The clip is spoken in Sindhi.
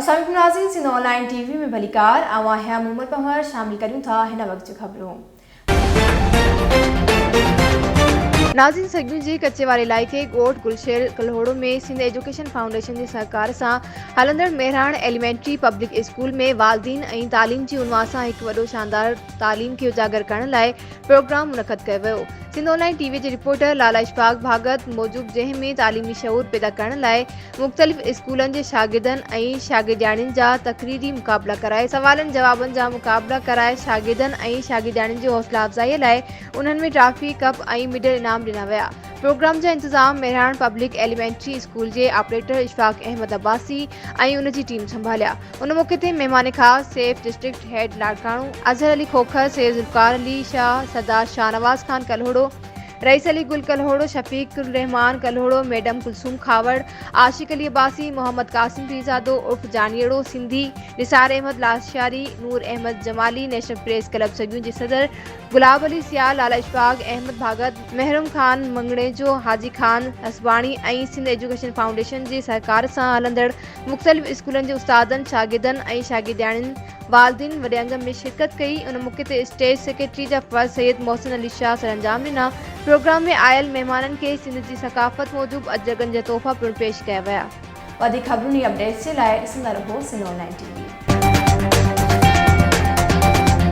اسلام عليڪم ناظرين Sindh online T V ۾ ڀليڪار آئون آهيان مون عمر پنهور شامل ڪريون ٿا هن وقت جون خبرون. ناظرين سگيون جي ڪچي واري علائقي ڳوٺ گلشير ڪلهوڙو ۾ سنڌ ايجوڪيشن فائونڊيشن جي سهڪار سان هلندڙ مهراڻ ايليمينٽري پبلڪ اسڪول ۾ والدين ۽ تعليم جي عنوان سان هڪ وڏو شاندار تعليم کي اجاگر ڪرڻ لاء پروگرام منعقد ڪيو ويو Sindh online T V جي رپورٽر لالا اشفاق ڀاڳت موجب جنهن ۾ تعليمي شعور پيدا ڪرڻ لاء مختلف اسڪولن جي شاگردن ۽ شاگردياڻين جا تقريري مقابلا ڪرائي سوالن جوابن جا مقابلا ڪرائي شاگردن ۽ شاگردياڻين جي حوصلا افزائي لاء انهن ۾ ٽرافي ڪپ ۽ مڊل انعام ڏنا ويا پروگرام جا انتظام مهراڻ پبلڪ ايليمينٽري اسڪول جي آپريٽر اشفاق احمد عباسي ۽ ان جي ٽيم سنڀاليا ان موقعي تي مهمان خاص Saif district head Larkana, Azhar Ali Khokhar, Syed Zulfiqar Ali Shah, Sardar Shahnawaz Khan Kalhoro, Rais Ali Gul Kalhoro, Shafiq ur Rehman Kalhoro, madam Kulsoom Khahawar, Ashiq Ali Abbasi, Muhammad Qasim Pirzado عرف Janiro, Sindhi, Nisar Ahmed Lashari, Noor Ahmed Jamali, national press club سڳيون جي صدر گلاب علي سيال، لالا اشفاق احمد ڀاڳت، محروم خان مڱڻيجو، حاجي خان حسباڻي ۽ سنڌ ايجوڪيشن فائونڊيشن جي سهڪار سان هلندڙ مختلف اسڪولن جي استادن، شاگردن ۽ شاگردياڻين، والدين وڏي انگ ۾ شرڪت ڪئي. ان موقعي تي اسٽيج سيڪريٽري جا فرض سيد محسن علي شاهه سرانجام ڏنا. پروگرام ۾ آيل مهمانن کي سنڌ جي ثقافت موجب اجرڪن جا تحفا پڻ پيش ڪيا ويا. وڌيڪ خبرون ۽ اپڊيٽس جي لاء ڏسندا رهو Sindh online T V.